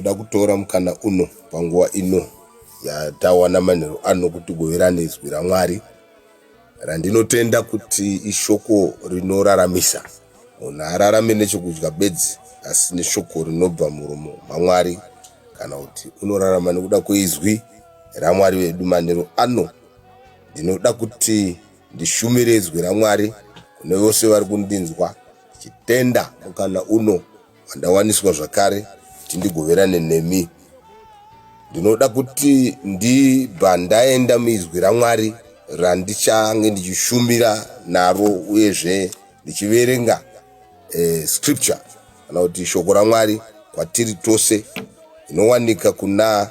ndinoda kutora mukana uno panguva ino yatawana manheru ano kuti goverane izwi ramwari randinotenda kuti ishoko rinoraramisa munhu ararame nechokudya bedzi asi neshoko rinobva muromo mamwari kana kuti unorarama nekuda kweizwi ramwari vedu manheru ano Ndinoda kuti ndishumire izwi raMwari kune vose vari kundinzwa, ndichitenda mukana uno wandawaniswa zvakare kuti ndigoverane nemi. Ndinoda kuti ndibva ndaenda muizwi raMwari randichange ndichishumira naro uyezve ndichiverenga eh, scripture kana kuti shoko raMwari kwatiri tose inowanika kuna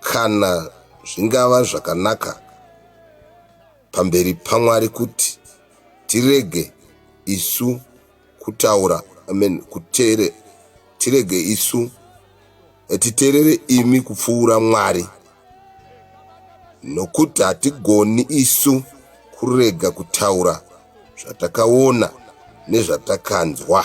Kana zvingava zvakanaka pamberi paMwari kuti tirege isu kutaura amen kutere tirege isu eh, titerere imi kupfuura mwari nokuti hatigoni isu kurega kutaura zvatakaona nezvatakanzwa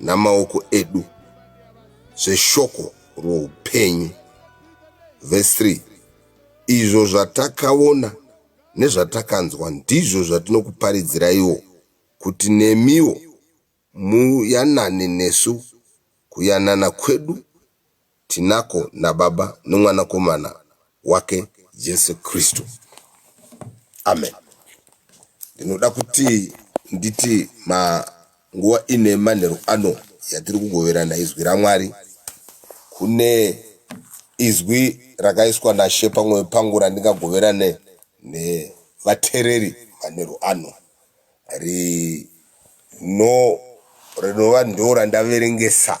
namaoko edu zveshoko roupenyu. Vhesi 3 Izvo zvatakaona nezvatakanzwa ndizvo zvatinokuparidziraiwo, kuti nemiwo muyanane nesu, kuyanana kwedu Tinako naBaba noMwanakomana wake Jesu Kristu. Amen. Ndinoda kuti nditi ma nguva ine manheru ano yatiri kugoverana izwi ramwari kune izwi rakaiswa nashe pamwoyo pangu randingagoverane nevatereri manheru ano rino rinova ndo randaverengesa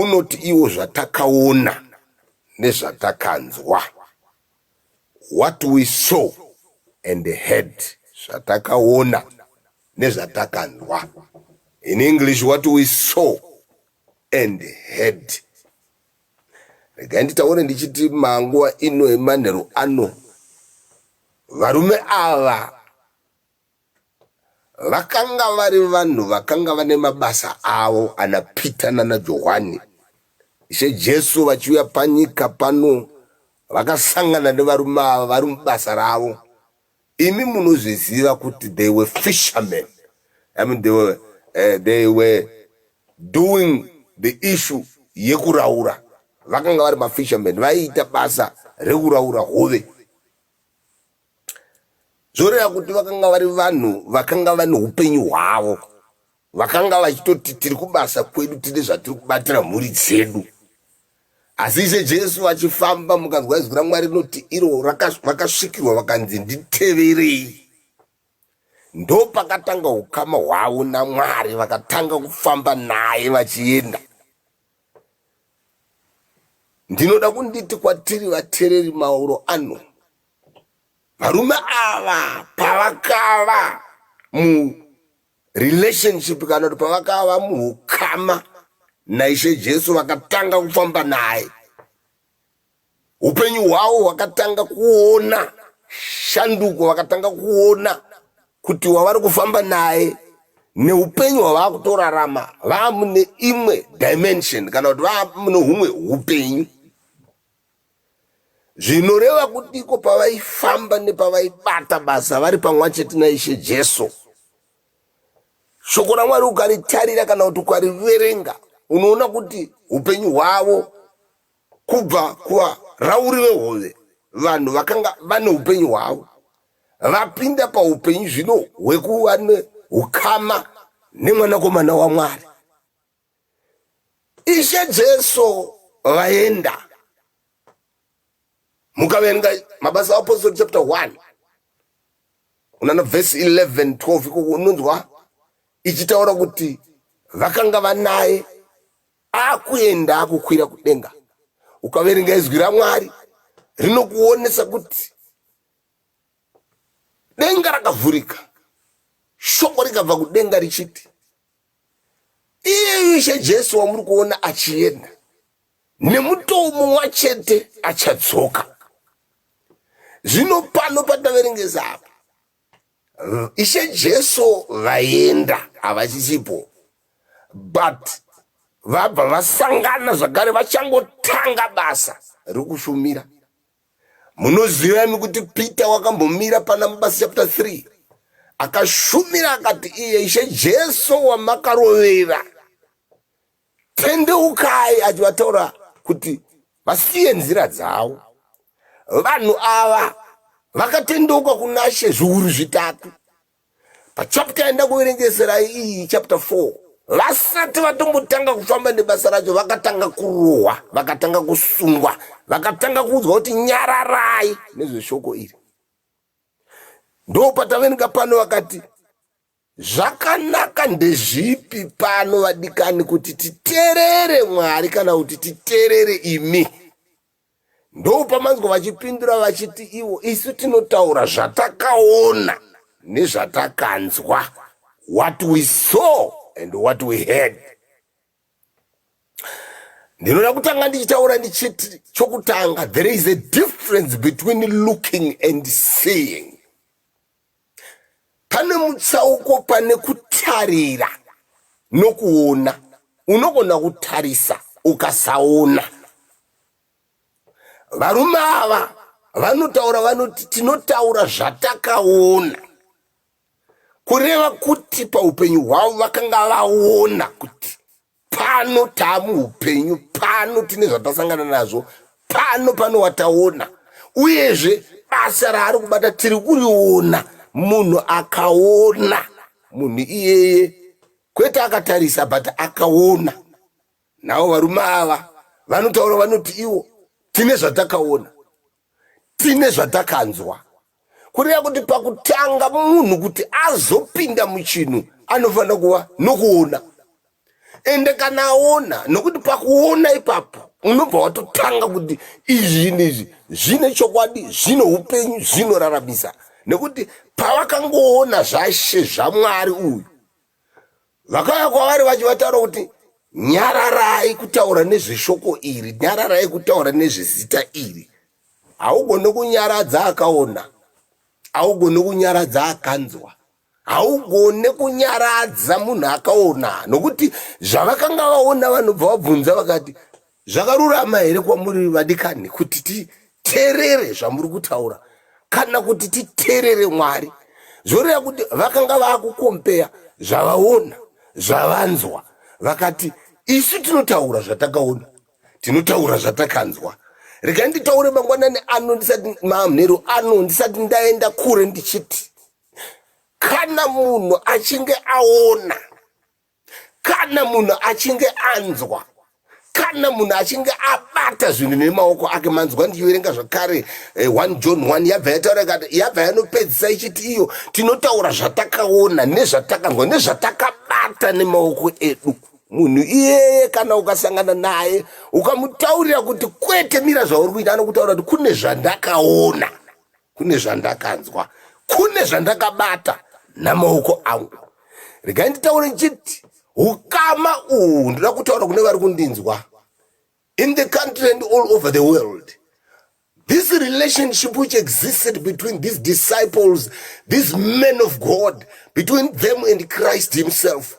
Unoti iwo zvatakaona nezvatakanzwa, what we saw and heard, zvatakaona nezvatakanzwa, in English what we saw and heard. Regai nditaure ndichiti manguva ino emanheru ano varume ava Vakanga vari vanhu vakanga vane mabasa avo, ana Pita nana Johwani. Ishe Jesu vachiuya panyika pano, vakasangana nevarume ava vari mubasa ravo. Imi munozviziva kuti they were fishermen. I mean, they were, eh, they were doing the issue yekuraura. Vakanga vari mafishermen, vaiita basa rekuraura hove. zvoreva kuti vakanga vari vanhu vakanga vane upenyu hwavo vakanga vachitoti tiri kubasa kwedu tine zvatiri kubatira mhuri dzedu asi ishe jesu vachifamba mukanzwa izwi ramwari rinoti iro vakasvikirwa vakanzi nditeverei ndo pakatanga ukama hwavo namwari vakatanga kufamba naye vachienda ndinoda kunditi kwatiri vatereri mauro ano varume ava pavakava murelationship kana kuti pavakava muukama naishe jesu vakatanga kufamba naye upenyu hwavo hwakatanga kuona shanduko vakatanga kuona kuti wavari kufamba naye neupenyu hwavakutorarama vaamune imwe dimension kana kuti vaamune humwe upenyu zvinoreva kuti iko pavaifamba nepavaibata basa vari pamwa chete naishe jesu shoko ramwari ukaritarira kana kuti ukariverenga unoona kuti upenyu hwavo Kubva kuvarauri vehove, vanhu vakanga vane upenyu hwavo vapinda paupenyu zvino hwekuva neukama neMwanakomana waMwari. Ishe Jesu vaenda. Mukaverenga Mabasa Apostle chapter 1 unaona verse 11 12 ikoko unonzwa ichitaura kuti vakanga vanaye akuenda akukwira kudenga ukaverenga izwi ramwari rinokuonesa kuti denga rakavhurika shoko rikabva kudenga richiti iyeyu ishe jesu wamuri kuona achienda nemutoo mumwa chete achadzoka zvino pano pataverengesa apa ishe jesu vaenda havachisipo but vabva vasangana zvakare vachangotanga basa rekushumira munoziva imi kuti peter wakambomira pana mabasa chapter 3 akashumira akati iye ishe jesu wamakarovera tendeukai achivataura kuti vasiye nzira dzavo vanhu ava vakatendeuka kuna she zviuru zvitatu pachapta yaenda kuverengesera iyi chapta 4 vasati vatombotanga kufamba nebasa racho vakatanga kurohwa vakatanga kusungwa vakatanga kuudzwa kuti nyararai nezveshoko iri ndopatavenika pano vakati Zvakanaka ndezvipi pano, vadikani, kuti titerere Mwari kana kuti titerere imi? Ndoupamanzwa vachipindura vachiti ivo, isu tinotaura zvatakaona nezvatakanzwa, what we saw and what we heard. Ndinoda kutanga ndichitaura ndichiti chokutanga, there is a difference between looking and seeing. Pane mutsauko pane kutarira nokuona. Unogona kutarisa ukasaona. Varume ava vanotaura vanoti tinotaura zvatakaona kureva kuti paupenyu hwavo vakanga vaona kuti pano taamuhupenyu pano tine zvatasangana nazvo pano pano wataona uyezve basa raari kubata tiri kuriona munhu akaona munhu iyeye kwete akatarisa but akaona navo varume ava vanotaura vanoti iwo tine zvatakaona tine zvatakanzwa kureva kuti pakutanga munhu kuti azopinda muchinhu anofanira kuva nokuona ende kana aona nokuti pakuona ipapo unobva watotanga kuti izvi neizvi zvine chokwadi zvine upenyu zvinoraramisa nekuti pavakangoona zvashe zvamwari uyu vakauya kwavari vachivataura kuti nyararai kutaura nezveshoko iri nyararai kutaura nezvezita iri haugone kunyaradza akaona haugone kunyaradza akanzwa haugone kunyaradza munhu akaona nokuti zvavakanga vaona vanobva vabvunza vakati Zvakarurama here kwamuri vadikani kuti titerere zvamuri kutaura kana kuti titerere Mwari? Zvoreva kuti vakanga vakukompeya zvavaona zvavanzwa vakati isu tinotaura zvatakaona tinotaura zvatakanzwa rega nditaure mangwanani ano ndisati mamhero ano ndisati ndaenda kure ndichiti kana munhu achinge aona kana munhu achinge anzwa kana munhu achinge abata zvinhu nemaoko ake manzwa ndichiverenga zvakare 1 eh, john 1 yabva yataura ikati yabva yanopedzisa ichiti iyo tinotaura zvatakaona nezvatakanzwa nezvatakabata nemaoko edu munhu iyeye kana ukasangana naye ukamutaurira kuti kwete mira zvauri kuita anokutaura kuti kune zvandakaona kune zvandakanzwa kune zvandakabata namaoko angu regai nditaure ndichiti ukama uhu ndoda kutaura kune vari kundinzwa in the country and all over the world this relationship which existed between these disciples these men of god between them and christ himself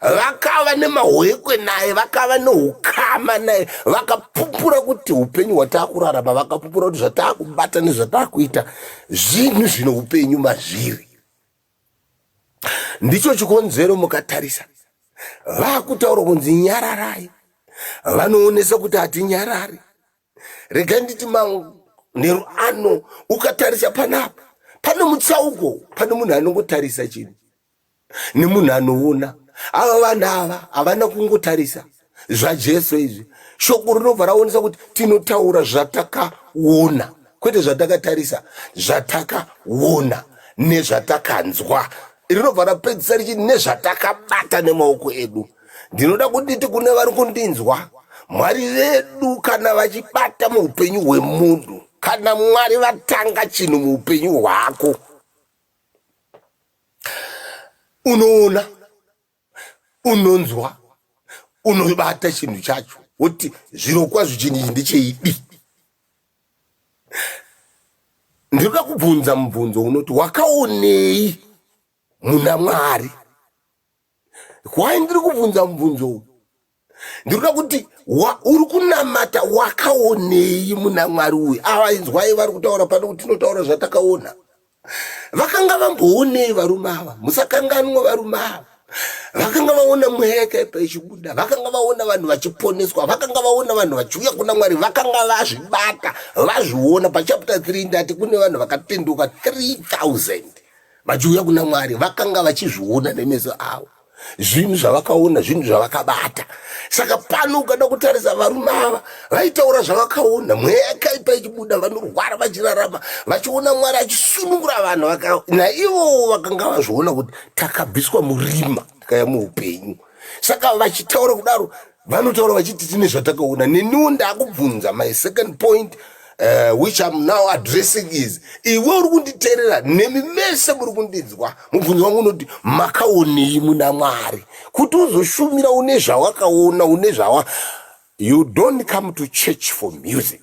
vakava nemahwekwe naye vakava neukama naye vakapupura kuti upenyu hwataakurarama vakapupura kuti zvataakubata nezvataakuita zvinhu zvine upenyu mazviri ndicho chikonzero mukatarisa vakutaura kunzi nyararai vanoonesa kuti hatinyarari rega nditi manheru ano ukatarisa panapa pane mutsauko pane munhu anongotarisa chinhu nemunhu anoona ava vanhu ava havana kungotarisa zvajesu izvi shoko rinobva raonesa kuti tinotaura zvatakaona kwete zvatakatarisa zvatakaona nezvatakanzwa rinobva rapedzisa richiti nezvatakabata nemaoko edu ndinoda kunditi kune vari kundinzwa mwari vedu kana vachibata muupenyu hwemunhu kana mwari vatanga chinhu muupenyu hwako unoona unonzwa unobata chinhu chacho woti zvirokwazvo chinhu ichi ndecheidi ndinoda kubvunza mubvunzo unoti wakaonei muna mwari why ndiri kubvunza mubvunzo uyu ndinoda kuti uri kunamata wakaonei muna mwari uyu avainzwai vari kutaura pano kuti tinotaura zvatakaona vakanga vamboonei varume ava musakanganwa varume ava vakanga vaona mweya yakaipa ichibuda vakanga vaona vanhu vachiponeswa vakanga vaona vanhu vachiuya kuna mwari vakanga vazvibata vazviona pachapta 3 ndati kune vanhu vakatenduka 3000 vachiuya kuna mwari vakanga vachizviona nemeso avo zvinhu zvavakaona zvinhu zvavakabata saka pano ukada kutarisa varume ava vaitaura zvavakaona mweya yakaipa ichibuda vanorwara vachirarama vachiona mwari achisunungura vanhu vaka naivowo vakanga vazviona kuti takabviswa murima tikaya muupenyu saka vachitaura kudaro vanotaura vachiti tine zvatakaona neniwo ndakubvunza my second point uh, which am now addressing is iwe uri kunditeerera nemi mese muri kundinzwa mubvunzo wangu unoti makaonei muna mwari kuti uzoshumira une zvawakaona une zvawa you don't come to church for music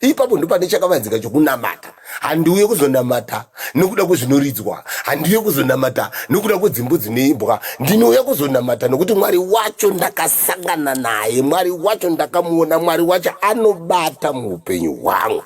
ipapo ndopane chakavanzika chokunamata handiuye kuzonamata nokuda kwezvinoridzwa handiuye kuzonamata nokuda kwedzimbo dzinoimbwa ndinouya kuzonamata nokuti mwari wacho ndakasangana naye mwari wacho ndakamuona mwari wacho anobata muupenyu hwangu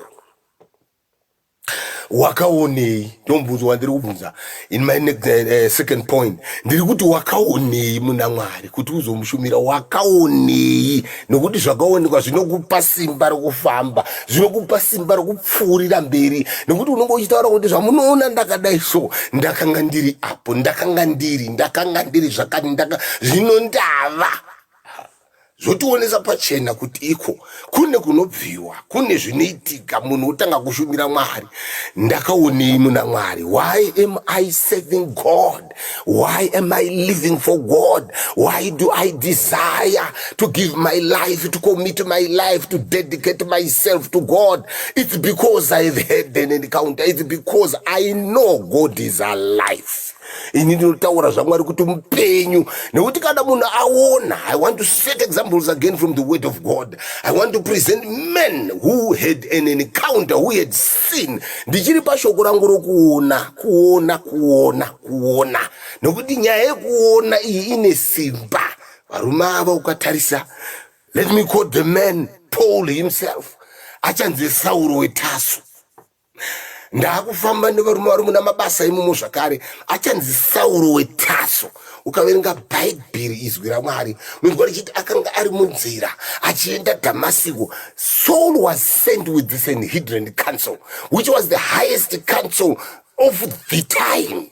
wakaonei ndomubvunzo wandiri kubvunza in my next, uh, second point ndiri kuti wakaonei muna mwari kuti uzomushumira wakaonei nokuti zvakaonekwa zvinokupa simba rokufamba zvinokupa simba rokupfuurira mberi nokuti unenge uchitaura kuti zvamunoona ndakadai so ndakanga ndiri apo ndakanga ndiri ndakanga ndiri zvakati ndaka zvino ndava zvotionesa pachena kuti iko kune kunobviwa kune zvinoitika munhu otanga kushumira mwari ndakaonei muna mwari why am i serving god why am i living for god why do i desire to give my life to commit my life to dedicate myself to god it's because i have heard an encounter it's because i know god is alive ini ndinotaura zvamwari kuti mupenyu nekuti kana munhu aona i want to set examples again from the word of god i want to present men who had an encounter who had seen ndichiri pashoko rangu rokuona kuona kuona kuona nekuti nyaya yekuona iyi ine simba varume ava ukatarisa let me quote the man paul himself achanzi sauro wetasu ndaakufamba nevarume vari muna mabasa imomo zvakare achanzi sauro wetaso ukaverenga bhaibheri izwi ramwari unonzwa richiti akanga ari munzira achienda dhamasiko saul was sent with the sanhedrin council which was the highest council of the time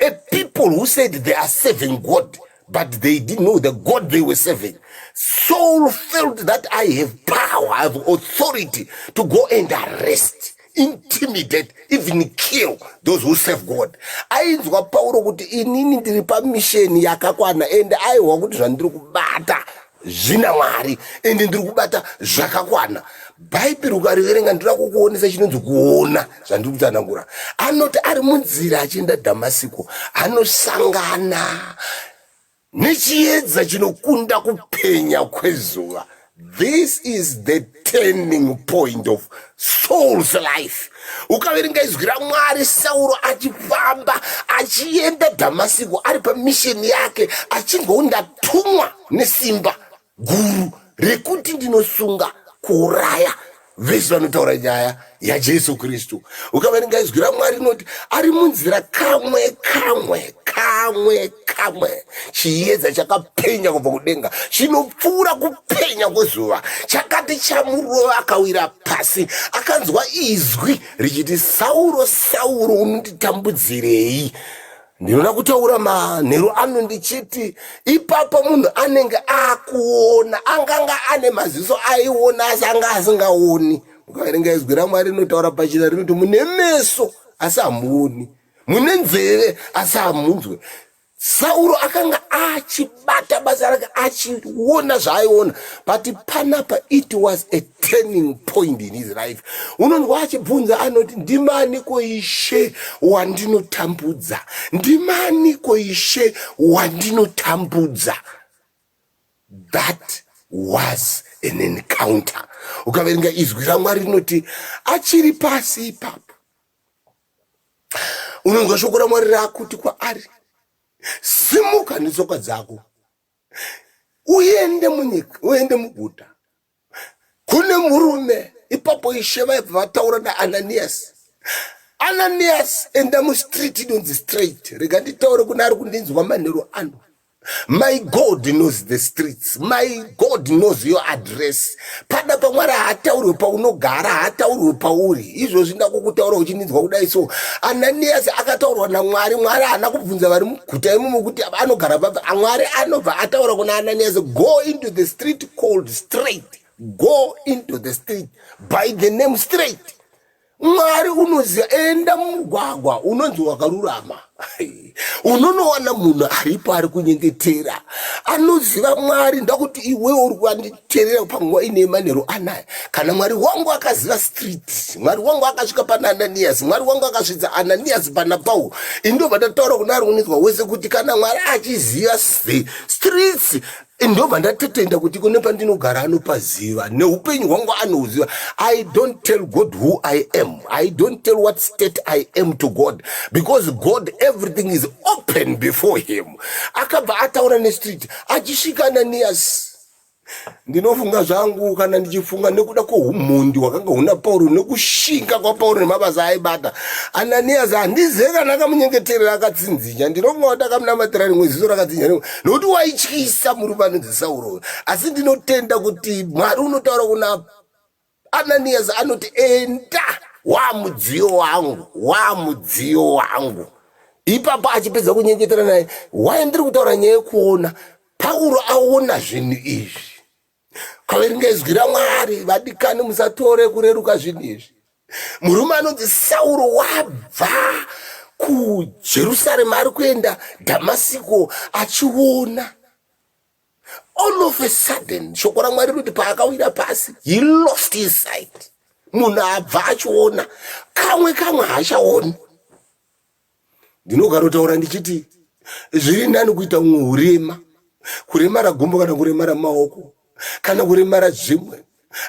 A people who said they are serving God, but they didn't know the God they were serving. Saul felt that I have power, I have authority to go and arrest, intimidate, even kill those who serve God. Ainzwa Paulo kuti inini ndiri pamisheni yakakwana and aihwa kuti zvandiri kubata zvina mwari ende ndiri kubata zvakakwana bhaibheri ukariverenga ndinoda kukuonesa chinonzi kuona zvandiri kutsanangura anoti ari munzira achienda dhamasiko anosangana nechiedza chinokunda kupenya kwezuva this is the turning point of souls life ukaverenga izwi ramwari sauro achifamba achienda dhamasiko ari pamisheni yake achinzwawo ndatumwa nesimba guru rekuti ndinosunga kuuraya vese vanotaura nyaya yajesu kristu ukaverenga izwi ramwari rinoti ari munzira kamwe kamwe kamwe kamwe chiedza chakapenya kubva kudenga chinopfuura kupenya kwezuva chakati chamurova akawira pasi akanzwa izwi richiti sauro sauro unonditambudzirei ndinoda kutaura manheru ano ndichiti ipapo munhu anenge akuona anganga ane maziso aiona asi anga asingaoni ukaverenga izwi ramwari rinotaura pachina rinoti mune meso asi hamuoni mune nzeve asi hamunzwe sauro akanga achibata basa rake achiona zvaaiona but panapa it was a turning point in his life unonzwa achibvunza anoti ndimani koishe wandinotambudza ndimani koishe wandinotambudza that was an encounter ukaverenga izwi ramwari rinoti achiri pasi ipapo unonzwa shoko ramwari rakuti kwaari simuka netsoka dzako uende munyika uende muguta kune murume ipapo ishe vaibva vataura naananiyasi ananiyasi enda mustreet inonzi straight rega nditaure kune ari kundinzwa manhero ano my god knows the streets my god knows your address pada pamwari haataurwe paunogara haataurwe pauri izvozvi ndakukutaura uchininzwa kudai so ananiyasi akataurwa namwari mwari haana kubvunza vari muguta imomo kuti anogara papi amwari anobva ataura kuna ananiyasi go into the street called straight go into the street by the name straight mwari unoziva enda mumugwagwa unonzi wakarurama unonowana munhu aripo ari kunyengetera anoziva mwari ndakuti iwewo uri kuanditerera panguva ine manheru anaya kana mwari wangu akaziva street mwari wangu akasvika pana ananiyasi mwari wangu akasvitsa ananiyasi pana pauro indobva ndataura kuna ari unonzwa wese kuti kana mwari achiziva streets ndobva ndatotenda kuti kune pandinogara anopaziva neupenyu hwangu anouziva i don't tell god who i am i don't tell what state i am to god because god everything is open before him akabva ataura nestreet achisvika ananiyasi ndinofunga zvangu kana ndichifunga nekuda kwoumhondi hwakanga huna pauro nekushinga kwapauro nemabasa aibata ananiyasi handizive kana akamunyengeterera akatsinzinya ndinofunga kuti akamunamatira rimwe ziso rakatsinzinya nokuti waityisa murume anonzi sauro uyo asi ndinotenda kuti mwari unotaura kuna ananiyasi anoti enda waa mudziyo wangu waa mudziyo wangu ipapo achipedza kunyengetera naye waye ndiri kutaura nyaya yekuona pauro aona zvinhu izvi kaveringa izwi ramwari vadikani musatore kureruka zvinhu izvi murume anonzi sauro wabva kujerusarema ari kuenda dhamasiko achiona all of a sudden shoko ramwari rinoti paakawira pasi he lost his sight munhu abva achiona kamwe kamwe haachaoni ndinogarotaura ndichiti zviri nani kuita umwe urema kuremara gumbo kana kuremara maoko kana kuremara zvimwe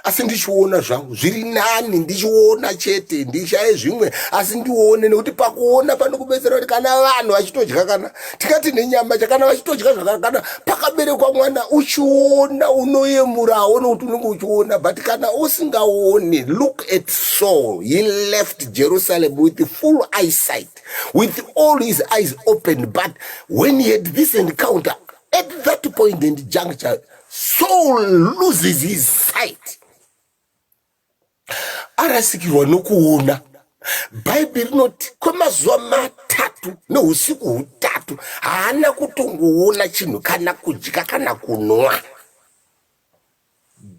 asi ndichiona zvangu zviri nani ndichiona chete ndishaye zvimwe asi ndione nekuti pakuona panokubetsera kuti kana vanhu vachitodya kana tikati nenyama chakana vachitodya zvakakana pakaberekwa mwana uchiona unoyemurawo nokuti unenge uchiona but kana usingaoni look at saul he left jerusalem with full eyesight with all his eyes open but when he had this encounter at that point and juncture saul loses his sight arasikirwa nokuona bhaibheri rinoti kwemazuva matatu neusiku hutatu haana kutongoona chinhu kana kudya kana kunwa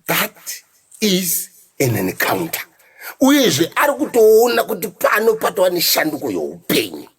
that is an encounter uyezve ari kutoona kuti pano patova neshanduko youpenyu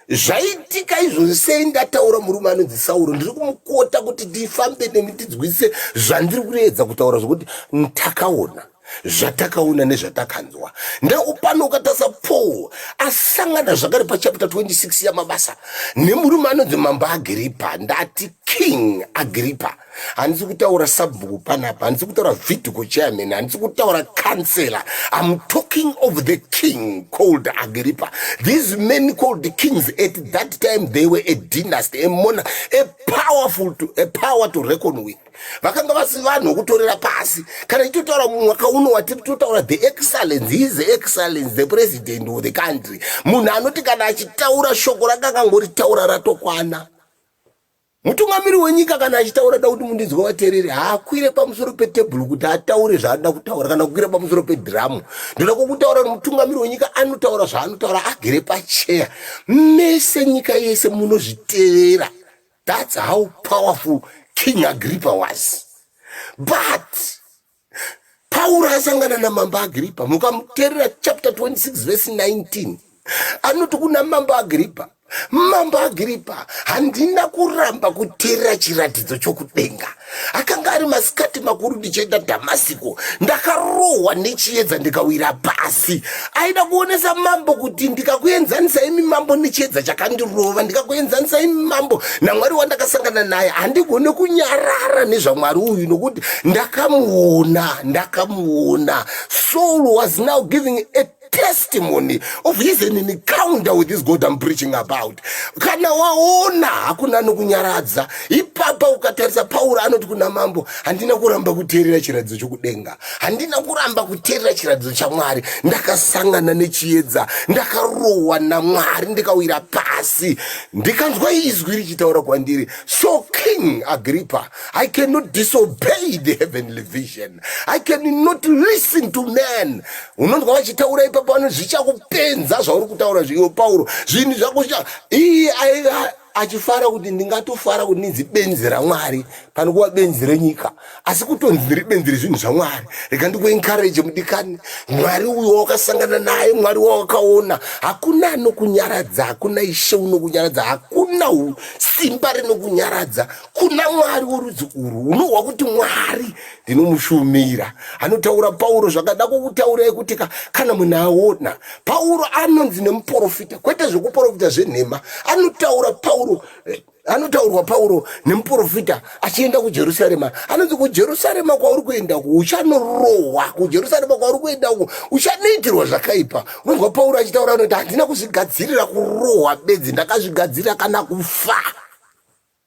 zvaitika izvozvi sei ndataura murume anonzi sauro ndiri kumukota kuti ndifambe nemi ndidzwise zvandiri kureedza kutaura zvokuti ntakaona zvatakaona nezvatakanzwa ndekupano ukatasa paul asangana zvakare pachapita 26 yamabasa nemurume anonzi mambo agripa ndati king agripa handisi kutaura sabhuku panapa handisi kutaura vidico chairman handisi kutaura councellor im talking of the king called agripa these men called the kings at that time they were a dynasty a mona a powerful to, a power to reckon with vakanga vasi vanhu vokutorera pasi kana ichitotaura mwaka uno watiri totaura the excellence his excellence the president of the country munhu anoti kana achitaura shoko rakangangoritaura ratokwana Mutungamiri wenyika kana achitaura da kuti mundinzwa vatereri haakwire pamusoro petebhuru kuti ataure zvaanoda kutaura kana kukwira pamusoro pedhiramu ndoda kwokutaura kuti mutungamiri wenyika anotaura zvaanotaura agere pacheya mese nyika yese munozvitevera thats how powerful king agripa was but pauro asangana namambo agripa mukamuterera chapter 26 vese 19 anoti kuna mambo agripa mambo agripa handina kuramba kuterera chiratidzo chokudenga akanga ari masikati makuru ndichienda dhamasiko ndakarohwa nechiedza ndikawira pasi aida kuonesa mambo kuti ndikakuenzanisa imi mambo nechiedza chakandirova ndikakuenzanisa imi mambo namwari wandakasangana naye handigone kunyarara nezvamwari uyu nokuti ndakamuona ndakamuona soul was now giving a testimony of his an encounter with this god i'm preaching about kana waona hakuna anokunyaradza ipapa ukatarisa pauro anoti kuna mambo handina kuramba kuteerera chiratidzo chokudenga handina kuramba kuteerera chiratidzo chamwari ndakasangana nechiedza ndakarohwa namwari ndikawira pasi ndikanzwa izwi richitaura kwandiri so king agrippa i cannot disobey the heavenly vision i cannot listen to man unonzwa vachitaura ipapo vanoti zvichakupenza zvauri kutaura zviyo pauro zvinhu zvako iye achifara kuti ndingatofara kuti ndinzi benzi ramwari pane kuva benzi renyika asi kutonzi ndiri benzi rezvinhu zvamwari rega ndikuencourage mudikani mwari uyo wakasangana naye mwari wawakaona hakuna anokunyaradza hakuna ishe unokunyaradza hakuna simba rinokunyaradza kuna mwari worudzi urwu unohwa kuti mwari ndinomushumira anotaura pauro zvakada kukutaurai kuti ka kana munhu aona pauro anonzi nemuporofita kwete zvekuporofita zvenhema anotaura pauro eh, anotaurwa pauro nemuporofita achienda kujerusarema anonzi kujerusarema kwauri kuenda uku uchanorohwa kujerusarema kwauri kuenda uku uchanoitirwa zvakaipa unonzwa pauro achitaura anoti handina kuzvigadzirira kurohwa bedzi ndakazvigadzirira kana kufa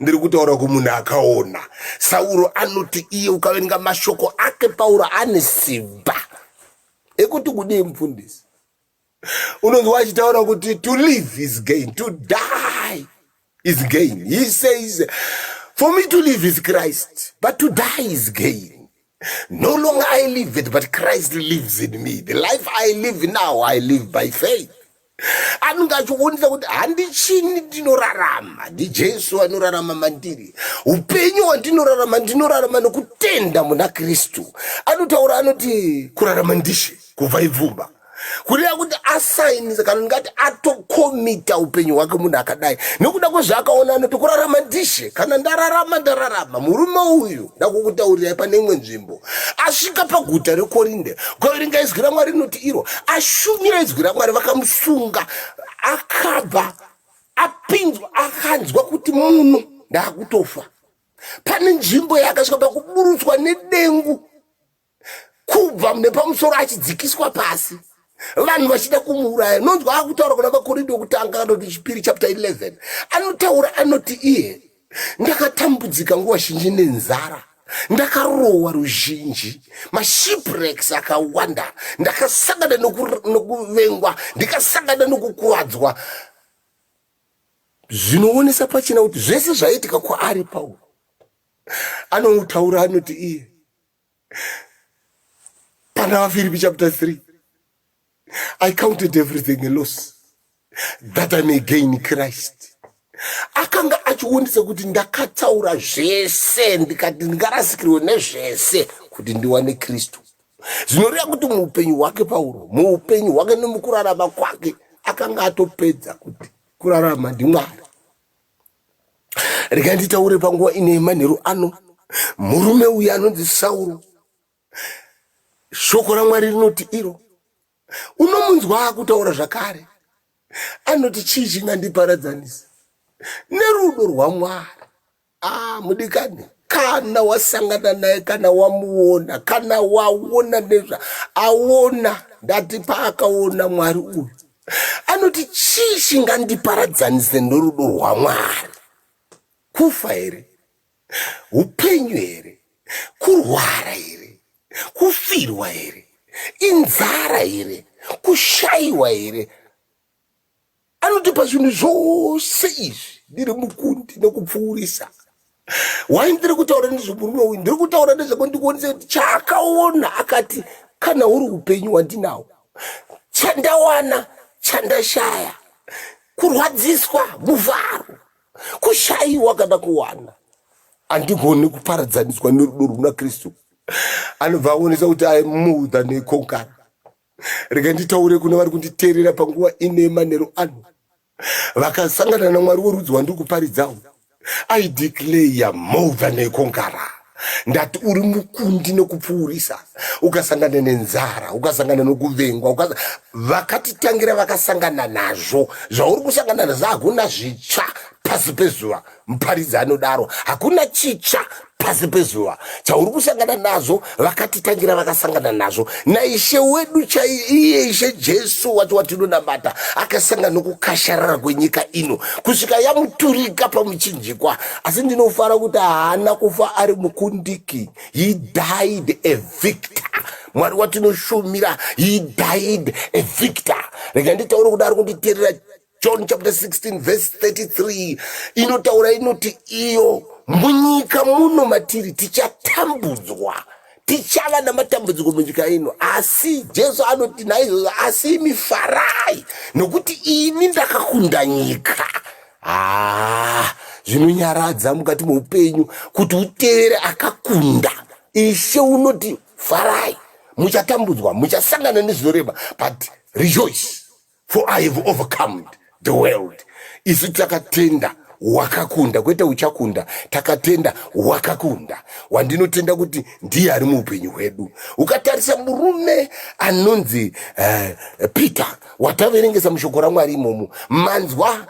ndiri kutaura kumunhu akaona sauro anoti iye ukaverenga mashoko ake pauro ane simba ekuti kudii mufundisi unonzi wachitaura kuti to live is gain to die is gain he says for me to live is christ but to die is gain No longer I live it, but Christ lives in me. The life I live now, I live by faith. anenge achionisa kuti handichini ndinorarama ndijesu anorarama mandiri upenyu hwandinorarama ndinorarama nokutenda muna kristu anotaura anoti kurarama ndishe kubva ibvumba kureva kuti asainisa kana ndingati atokomita upenyu hwake munhu akadai nokuda kwezvaakaona anoti kurarama ndishe kana ndararama ndararama murume uyu ndakukutaurirai pane imwe nzvimbo asvika paguta rekorinde koringa izwi ramwari rinoti iro ashumira izwi ramwari vakamusunga akabva apinzwa akanzwa kuti munhu ndaakutofa pane nzvimbo yaakasvika pakuburutswa nedengu kubva mune pamusoro achidzikiswa pasi vanhu vachida kumuuraya nonzwa akutaura kuna vakoridi wekutanga kana kuti chipiri chapta 11 anotaura anoti iye ndakatambudzika nguva zhinji nenzara ndakarohwa ruzhinji mashipwrecks akawanda ndakasangana nokuvengwa ndikasangana nokukuvadzwa zvinoonesa pachina kuti zvese zvaiitika kwaari pauro anoutaura anoti iye Pana vaFiripi chapter 3 I counted everything a loss that I may gain Christ. Akanga achionisa kuti ndakataura zvese ndikati ndingarasikirwe nezvese kuti ndiwane Kristu. Zvinoreva kuti muupenyu hwake Pauro, muupenyu hwake nemukurarama kwake akanga atopedza kuti kurarama ndiMwari. Rega nditaure panguva ino yemanheru ano, murume uyu anonzi Sauro, shoko raMwari rinoti iro, unomunzwa akutaura zvakare, anoti chii chingandiparadzanisa nerudo rwaMwari? Ah, mudikani kana wasangana naye kana wamuona kana waona nezva aona ndati paakaona mwari uyu anoti chii chingandiparadzanise norudo rwamwari kufa here upenyu here kurwara here kufirwa here inzara here kushaiwa here anoti pazvinhu zvose izvi ndiri mukundi nekupfuurisa why ndiri kutaura nezvemurume uyu ndiri kutaura nezvako ndikuonesa kuti chaakaona akati kana uri upenyu wandinawo chandawana chandashaya kurwadziswa muvharo kushayiwa kana kuwana andigoni kuparadzaniswa nerudo rwuna kristu anobva aonesa kuti i more than a conqueror rega nditaure kune vari kunditeerera panguva ine manero ano vakasangana namwari worudzi wandiri kuparidzawo i declare more than a conqueror ndati uri mukundi nekupfuurisa ukasangana nenzara ukasangana nokuvengwa ukas... vakatitangira vakasangana nazvo zvauri kusangana nazvo hakuna zvitsva pasi pezuva muparidzi anodaro hakuna chitsva pasi pezuva chauri kusangana nazvo vakatitangira vakasangana nazvo naishe wedu chaiiye ishe jesu wacho watinonamata akasangana nokukasharara kwenyika ino kusvika yamuturika pamuchinjikwa asi ndinofara kuti haana kufa ari mukundiki he died a victor mwari watinoshumira he died a victor rega nditaure kudaro kunditerera John chapter 16 verse 33 inotaura inoti iyo munyika muno matiri tichatambudzwa tichava namatambudziko munyika ino asi jesu anoti naizvozvo asi imi farai nokuti ini ndakakunda nyika haa ah, zvinonyaradza mukati meupenyu kuti utevere akakunda ishe unoti farai muchatambudzwa muchasangana nezvinoreba but rejoice for i have overcomed the world isu takatenda wakakunda kwete uchakunda takatenda wakakunda wandinotenda kuti ndiye ari muupenyu hwedu ukatarisa murume anonzi uh, peter wataverengesa mushoko ramwari imomo manzwa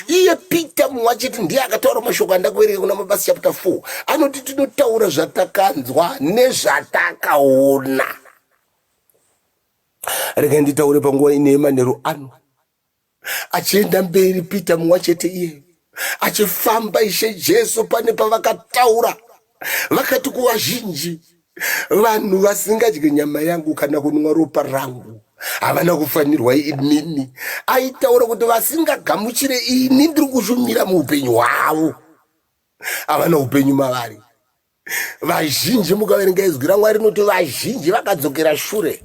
iye peter mumwe achiti ndiye akataura mashoko andakuverenga kuna mabasa chapter 4 anoti tinotaura zvatakanzwa nezvatakaona Rega nditaure panguva ine yemanheru ano. Achienda mberi Pita mumwe chete iye achifamba Ishe Jesu pane pavakataura vakati kuvazhinji vanhu vasingadye nyama yangu kana kunwa ropa rangu havana kufanirwa inini aitaura kuti vasingagamuchire ini ndiri kushumira muupenyu hwavo havana upenyu mavari vazhinji mukaverenga izwi ramwari rinoti vazhinji vakadzokera shure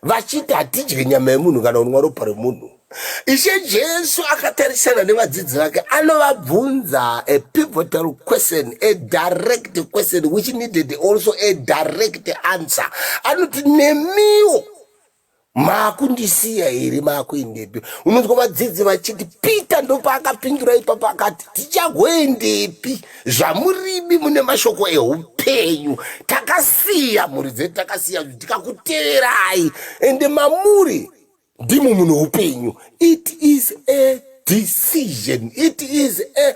vachiti hatidye nyama yemunhu kana kunwa ropa remunhu ishe jesu akatarisana nevadzidzi vake anovabvunza a pivotal question a direct question which needed also a direct answer anoti nemiwo maakundisiya here maakuendepi unonzwa vadzidzi vachiti peter ndopaakapindura ipapo akati tichagoendepi zvamuribi mune mashoko eupenyu takasiya mhuri dzedu takasiya tikakuteverai ende mamuri ndimo mune upenyu it is a decision it is a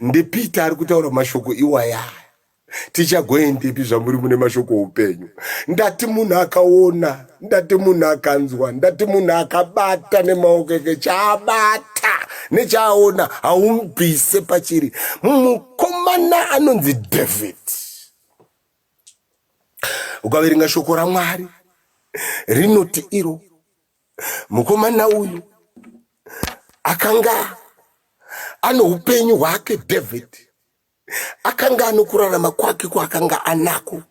ndipeter ari kutaura mashoko iwaya tichagoendepi zvamuri mune mashoko oupenyu ndati munhu akaona ndati munhu akanzwa ndati munhu akabata nemaoko eke chaabata nechaaona haumubvise pachiri mukomana anonzi david ukaverenga shoko ramwari rinoti iro mukomana uyu akanga ano upenyu hwake david akanga ano kurarama kwake kwaakanga anako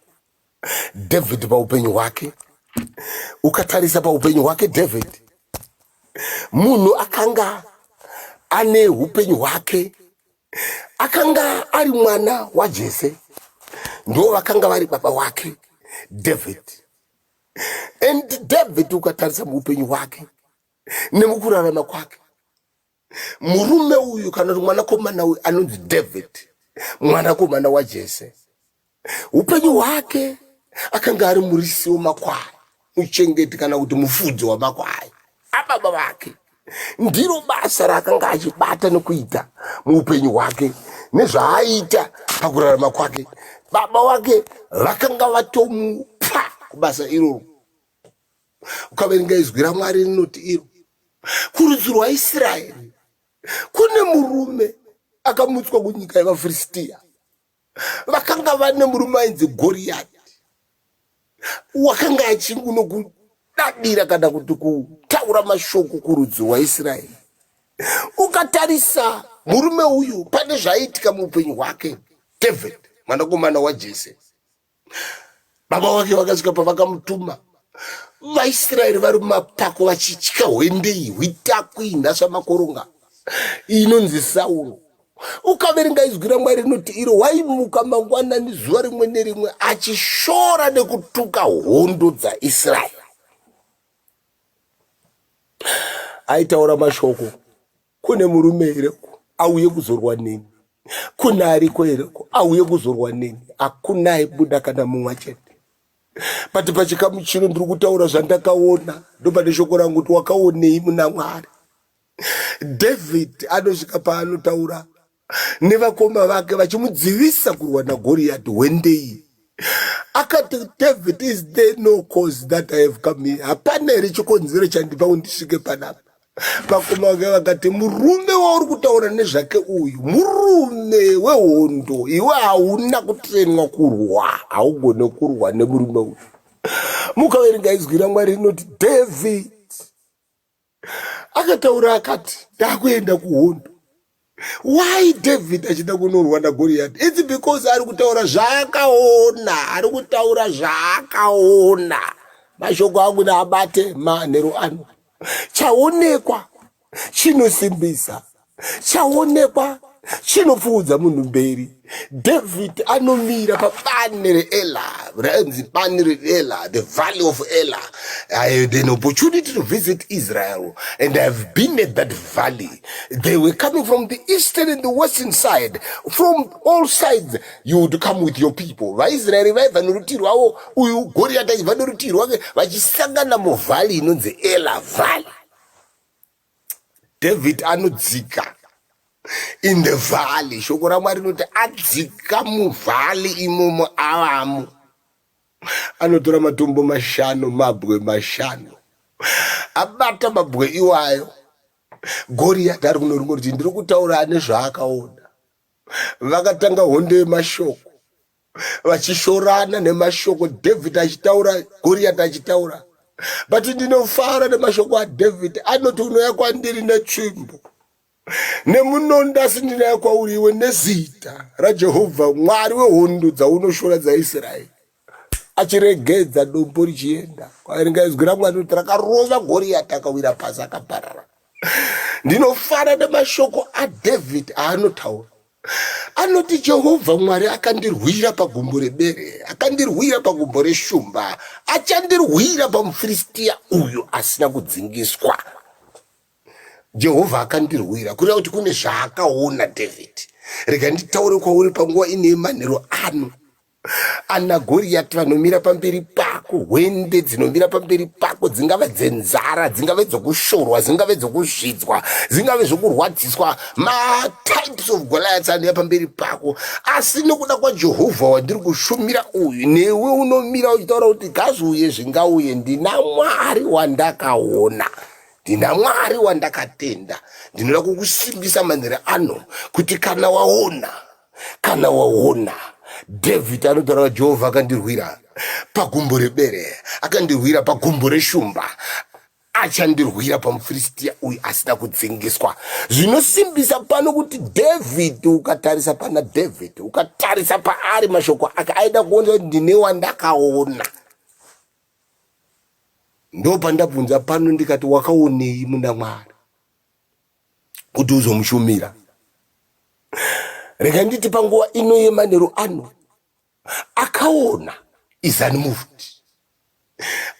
david paupenyu hwake ukatarisa paupenyu hwake david munhu akanga ane upenyu hwake akanga ari mwana wajese ndo vakanga vari baba wake david and david ukatarisa muupenyu hwake nemukurarama kwake murume uyu kana kuti mwanakomana uyu anonzi david mwanakomana wajese upenyu hwake akanga ari murisi wemakwai muchengeti kana kuti mufudzi wamakwai ababa vake ndiro basa raakanga achibata nokuita muupenyu hwake nezvaaita pakurarama kwake baba wake vakanga vatomupa kubasa iroro ukaverenga izwi ramwari rinoti iro kurudzi rwaisraeri kune murume akamutswa kunyika yevafiristiya vakanga vane murume ainzi goriyati wakanga achinguno kudadira kana kuti kutaura mashoko kurudzi rwaisraeri ukatarisa murume uyu pane zvaiitika muupenyu hwake david mwanakomana wajese baba vake vakasvika pavakamutuma vaisraeri vari mumapako vachitya hwendei hwitakwi nhasva makoronga inonzi sauro ukaverenga izwi ramwari rinoti iro waimuka mangwanani zuva rimwe nerimwe achishora nekutuka hondo dzaisraeri aitaura mashoko Kune murume here uko auye kuzorwa neni? Kune ariko here uko auye kuzorwa neni? Hakuna aibuda kana mumwe chete. But pachikamu chino ndiri kutaura zvandakaona, ndopane shoko rangu kuti wakaonei muna Mwari. David anosvika paanotaura nevakoma vake vachimudzivisa kurwa nagoriyati hwendei akati david is there no cause that i have come here hapana here chikonzero chandipa kundisvike panapa vakoma vake vakati murume wauri kutaura nezvake uyu murume wehondo iwe hauna kutrenwa kurwa haugone kurwa nemurume uyu mukaverenga izwi ramwari rinoti david akataura akati ndakuenda kuhondo why david achida kunorwa nagoriyati its because ari kutaura zvaakaona ari kutaura zvaakaona mashoko angu naabate manhero ano chaonekwa chinosimbisa chaonekwa chinopfuudza munhu mberi david anomira pabani reela rainzi bani reela the valley of ela i had an opportunity to visit israel and i have been at that valley they were coming from the eastern and the western side from all sides you would come with your people vaisraeri vaiva norutivi rwavo uyu goriyati aiva norutivi rwake vachisangana muvhali inonzi ela valley David anodzika in the valley shoko ramwari rinoti adzika muvhali imomo avamo anotora matombo mashanu mabwe mashanu abata mabwe iwayo goriyati ari kuno ringo riti ndiri kutaura ane zvaakaona vakatanga hondo yemashoko vachishorana nemashoko david achitaura goriyati achitaura but ndinofara nemashoko adavid anoti unouya kwandiri netsvimbo nemunondo asi ndinouya kwauri iwe nezita rajehovha mwari wehondo dzaunoshora dzaisraeri achiregedza dombo richienda kwaringa izwi ramwari kuti rakarova goriyati akawira pasi akaparara ndinofara nemashoko adavid aanotaura anoti jehovha mwari akandirwira pagumbo rebere akandirwira pagumbo reshumba achandirwira pamufiristiya uyu asina kudzingiswa jehovha akandirwira kureva kuti kune zvaakaona david rega nditaure kwauri panguva ine manhero ano ana goriyati vanomira pamberi pako hwende dzinomira pamberi pako dzingave dzenzara dzingave dzokushorwa dzingave dzokuzvidzwa dzingave zvokurwadziswa matypes of goliaths anomira pamberi pako asi nokuda kwajehovha wandiri kushumira uyu newe unomira uchitaura kuti gazviuye zvingauye ndina mwari wandakaona ndina mwari wandakatenda ndinoda kukusimbisa manhere ano kuti kana waona kana waona dhavhidhi anotaura jehovha akandirwira pagumbo rebere akandirwira pagumbo reshumba achandirwira pamufiristiya uyu asina kudzingiswa zvinosimbisa pano kuti dhavhidhi ukatarisa pana dhavhidhi ukatarisa paari mashoko ake aida kuona kuti ndine wandakaona ndopandabvunza pano ndikati wakaonei muna mwari kuti uzomushumira rega nditi panguva ino yemanheru ano akaona izani moved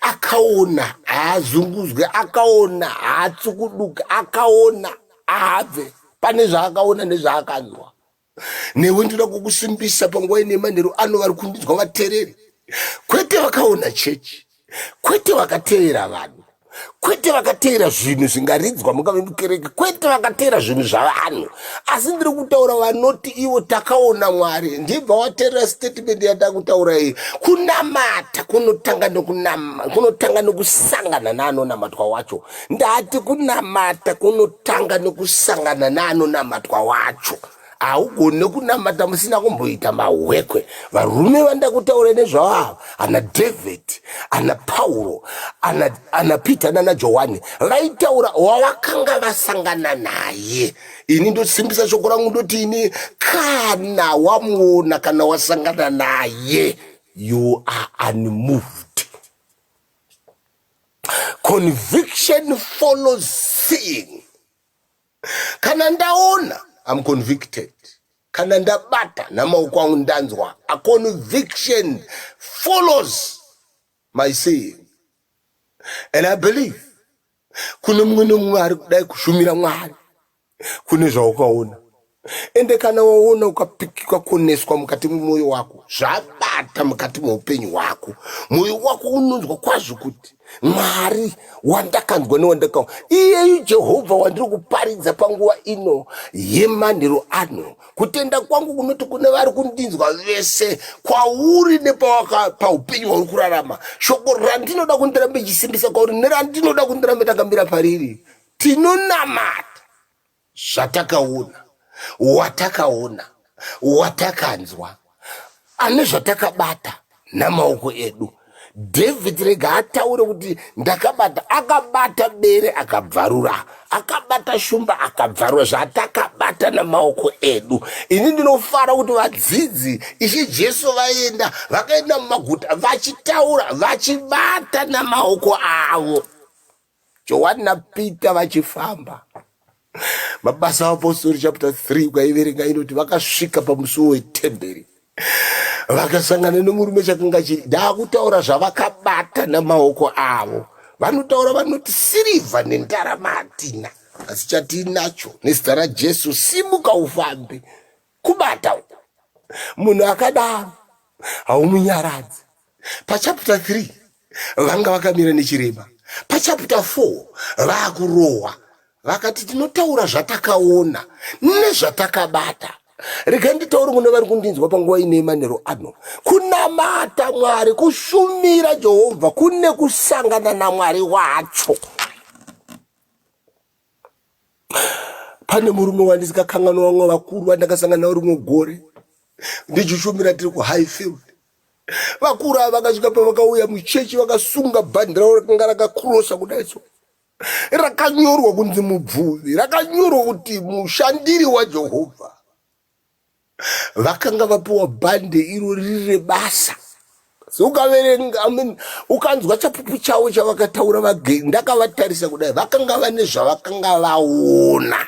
akaona haazunguzwe akaona haatsukuduke akaona ahabve pane zvaakaona nezvaakanzwa newe ndinoda kukusimbisa panguva ine manheru ano vari kundidzwa vatereri kwete vakaona chechi kwete vakateera vanhu kwete vakateera zvinhu zvingaridzwa mungave mukereke kwete vakateera zvinhu zvavanhu asi ndiri kutaura vanoti ivo takaona mwari ndibva wateerera statement yata kutaura iyi kunamata kunotanga nokusangana neanonamatwa wacho ndati kunamata kunotanga nekusangana neanonamatwa wacho haugone kunamata musina kumboita mahwekwe varume vandakutaura nezvavo ava ana david ana pauro ana, ana peter nana johani vaitaura wavakanga vasangana naye ini ndosimbisa shoko rangu ndoti ini kana wamuona kana wasangana naye you are unmoved conviction follows seeing kana ndaona am convicted kana ndabata namaoko angu ndanzwa a conviction follows my seeing and i believe kune mumwe nomumwe ari kudai kushumira mwari kune zvaukaona ende kana waona ukapikika kuoneswa mukati memwoyo wako zvabata mukati meupenyu hwako mwoyo wako unonzwa kwazvo kuti mwari wandakanzwa newandaka iyeyu jehovha wandiri kuparidza panguva ino yemanhero ano kutenda kwangu kunoti kune vari kundinzwa vese kwauri nepaupenyu hwauri kurarama shoko randinoda kundirambe chisimbisa kwauri nerandinoda kundirambe takamira pariri Tinonamata zvatakaona, watakaona, watakanzwa, ane zvatakabata namaoko edu. David rega ataure kuti ndakabata, akabata bere akabvarura, akabata shumba akabvarura, zvatakabata namaoko edu. Ini ndinofara kuti vadzidzi Ishe Jesu vaenda, vakaenda mumaguta vachitaura, vachibata namaoko avo. Johani naPita vachifamba. Mabasa aApostori chapter 3 ukaiverenga inoti vakasvika pamusuwo wetemberi vakasangana nemurume chakanga chiri ndaakutaura zvavakabata namaoko avo vanotaura vanoti sirivha nendarama hatina asi chatiinacho nezita rajesu simuka ufambe kubata uku munhu akadaro haumunyaradzi pachapter 3 vanga vakamira nechirema pachapter 4 vakurohwa vakati tinotaura zvatakaona nezvatakabata rega nditauri kune vari kundinzwa panguva ine manero ano kunamata mwari kushumira jehovha kune kusangana namwari wacho Pane murume wandisikakanganwa vamwe vakuru vandakasangana navo rimwe gore ndijushumira tiri kuhighfield vakuru ava vakasvika pavakauya muchechi vakasunga bhandi ravo rakanga rakakurosa kudai so rakanyorwa kunzi mubvuvi rakanyorwa kuti mushandiri wajehovha vakanga vapiwa bhande iro riri rebasa ukaverenga I mean, ukanzwa chapupu chavo chavakataura vagei ndakavatarisa kudai vakanga vane zvavakanga vaona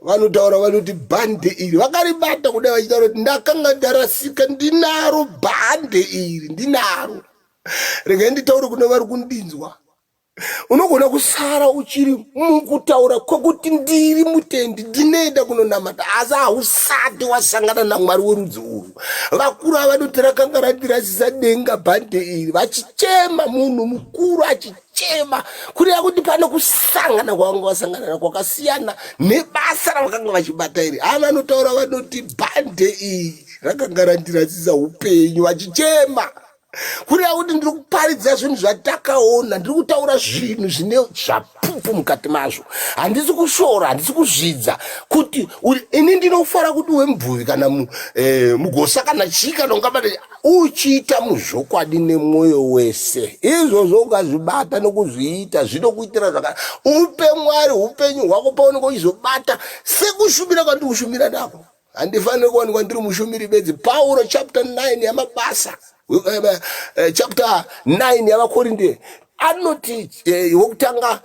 vanotaura vanoti bhande iri vakaribata kudai vachitaura kuti ndakanga ndarasika ndinaro bhande iri ndinaro regai nditaure kune vari kundinzwa unogona kusara uchiri mukutaura kwekuti ndiri mutendi ndinoenda kunonamata asi hausati wasangana namwari werudzi urwu vakuru ava vanoti rakanga randirasisa denga bhande iri vachichema munhu mukuru achichema kureva kuti pane kusangana kwavanga vasangana na kwakasiyana nebasa ravakanga vachibata iri ava vanotaura vanoti bhande iri rakanga randirasisa upenyu vachichema kureva kuti ndiri kuparidza zvinhu zvatakaona ndiri kutaura zvinhu zvine zvapupu mukati mazvo handisi kushora handisi kuzvidza kuti ini ndinofara kuti wemubvuvi kana eh, mugosa kana chii kana ungabata uchiita muzvokwadi nemwoyo wese izvozvo ukazvibata nokuzviita zvinokuitira zvaka upe mwari upenyu hwako paunenge uchizobata sekushumira kwandiri kushumira nako handifaniri kuwanikwa ndiri mushumiri bedzi pauro chapter 9 yamabasa eh, eh, eh, chapter 9 yavakorinde anoti wokutanga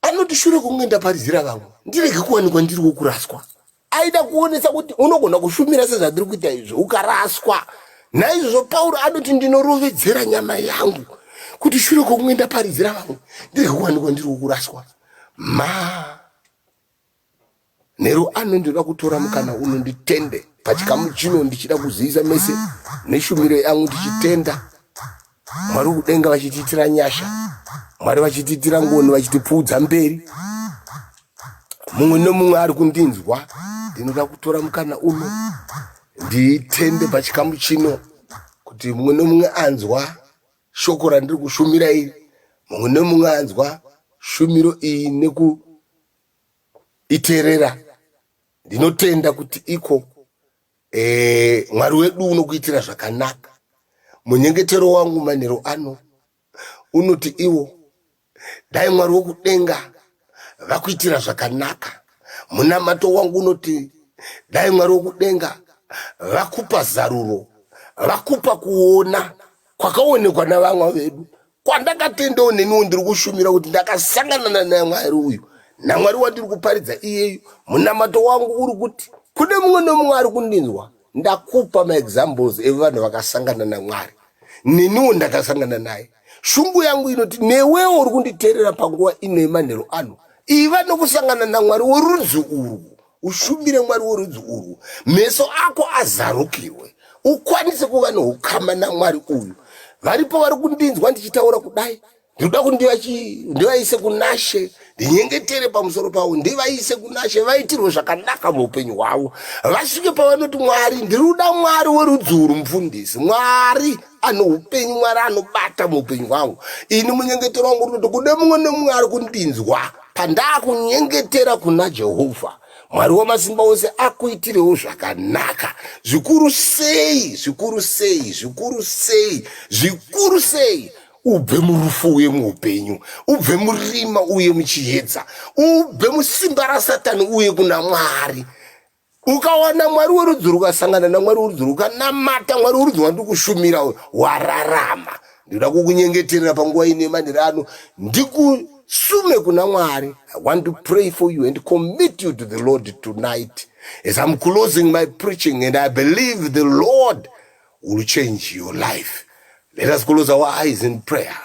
anoti shure kunge ndaparidzira vamwe ndirege kuwanikwa ndiri wokuraswa aida kuonesa kuti unogona kushumira sezvandiri kuita izvi ukaraswa naizvozvo pauro anoti ndinorovedzera nyama yangu kuti shure kwokunge ndaparidzira vamwe ndirege kuwanikwa ndiri wokuraswa ma Nero ano ndinoda kutora mukana uno nditende pachikamu chino ndichida kuzivisa mese neshumiro yangu ndichitenda Mwari kudenga vachitiitira nyasha Mwari vachitiitira ngoni vachitipfuudza mberi mumwe nomumwe ari kundinzwa ndinoda kutora mukana uno nditende pachikamu chino kuti mumwe nomumwe anzwa shoko randiri kushumira iri mumwe nemumwe anzwa shumiro iyi nekuiterera ndinotenda kuti iko e, mwari wedu unokuitira zvakanaka munyengetero wangu manhero ano unoti iwo Dai Mwari wokudenga vakuitira zvakanaka. Munamato wangu unoti dai Mwari wokudenga vakupa zaruro, vakupa kuona kwakaonekwa navamwa vedu kwandakatendawo neniwo ndiri kushumira kuti ndakasanganana namwari uyu namwari wandiri kuparidza iyeyu munamato wangu uri kuti kune mumwe nomumwe ari kundinzwa Ndakupa maexamples evanhu vakasangana naMwari, neniwo ndakasangana naye. Shungu yangu inoti newewo uri kunditerera panguva ino yemanhero ano, iva nokusangana naMwari worudzi urwu, ushumire Mwari worudzi urwu, meso ako azarukirwe, ukwanise kuva noukama naMwari uyu. Varipo vari kundinzwa ndichitaura kudai, ndinoda kuti ndivaise kunashe ndinyengetere pamusoro pavo ndivaise kunashe vaitirwe zvakanaka muupenyu hwavo vasvike pavanoti mwari ndiri kuda mwari werudzi uru mufundisi mwari ano upenyu mwari anobata muupenyu hwangu ini munyengetero wangu unoti kude mumwe nemumwe ari kundinzwa pandaakunyengetera kuna jehovha mwari wamasimba ose akuitirewo zvakanaka zvikuru sei zvikuru sei zvikuru sei zvikuru sei ubve murufu uye muupenyu ubve murima uye muchiyedza ubve musimba rasatani uye kuna mwari ukawana mwari werudzi rukasangana namwari werudzi rukanamata mwari werudzi wandikushumira wararama ndinoda kukunyengeterera panguva ine manhiri ano ndikusume kuna mwari i want to pray for you and commit you to the lord tonight as i'm closing my preaching and i believe the lord will change your life let us close our eyes in prayer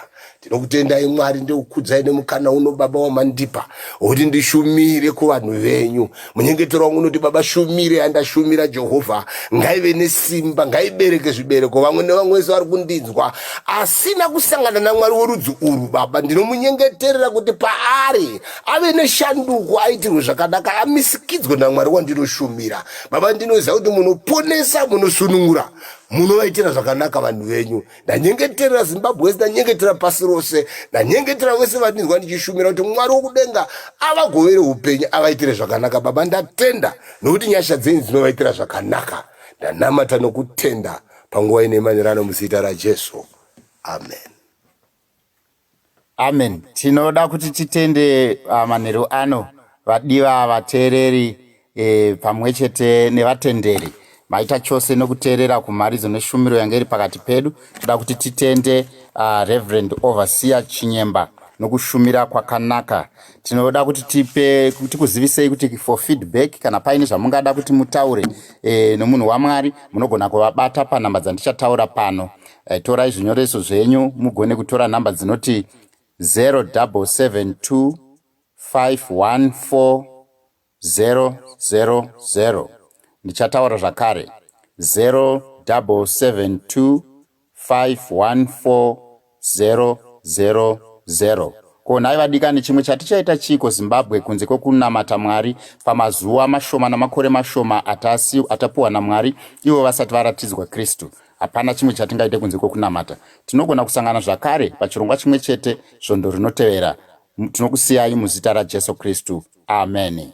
tinokutendai mwari ndikukudzai nemukana uno baba wamandipa wekuti ndishumire kuvanhu venyu munyengetero wangu unoti baba shumire yandashumira jehovha ngaive nesimba ngaibereke zvibereko vamwe nevamwe vese vari kundinzwa asina kusangana namwari werudzi urwu baba ndinomunyengeterera kuti paari ave neshanduko aitirwe zvakanaka amisikidzwe namwari wandinoshumira baba ndinoziva kuti munoponesa munosunungura munovaitira zvakanaka vanhu venyu ndanyengetera zimbabwe wese ndanyengetera pasi rose ndanyengetera vese vandinzwa ndichishumira kuti mwari wokudenga avagovere upenyu avaitire zvakanaka baba ndatenda nokuti nyasha dzenyu dzinovaitira zvakanaka ndanamata nokutenda panguva ine manirano muzita rajesu amen Amen tinoda kuti titende ah, manheru ano vadiva vateereri eh, pamwe chete nevatenderi maita chose nokuteerera kumharidzo neshumiro yange iri pakati pedu toda kuti titende uh, reverend overseer chinyemba nokushumira kwakanaka tinoda kuti tipe tikuzivisei kuti for feedback kana paine zvamungada kuti mutaure e, nomunhu wamwari munogona kuvabata panhamba dzandichataura pano Eh, torai zvinyoreso zvenyu mugone kutora nhamba dzinoti 0725140000 ndichataura zvakare 0725140000 ko nhai vadikani chimwe chatichaita chiiko zimbabwe kunze kwekunamata mwari pamazuva mashoma namakore mashoma atapuwa namwari ivo vasati varatidzwa kristu Hapana chimwe chatingaite kunze kwekunamata. Tinogona kusangana zvakare pachirongwa chimwe chete svondo rinotevera. Tinokusiyai muzita raJesu Kristu. Ameni.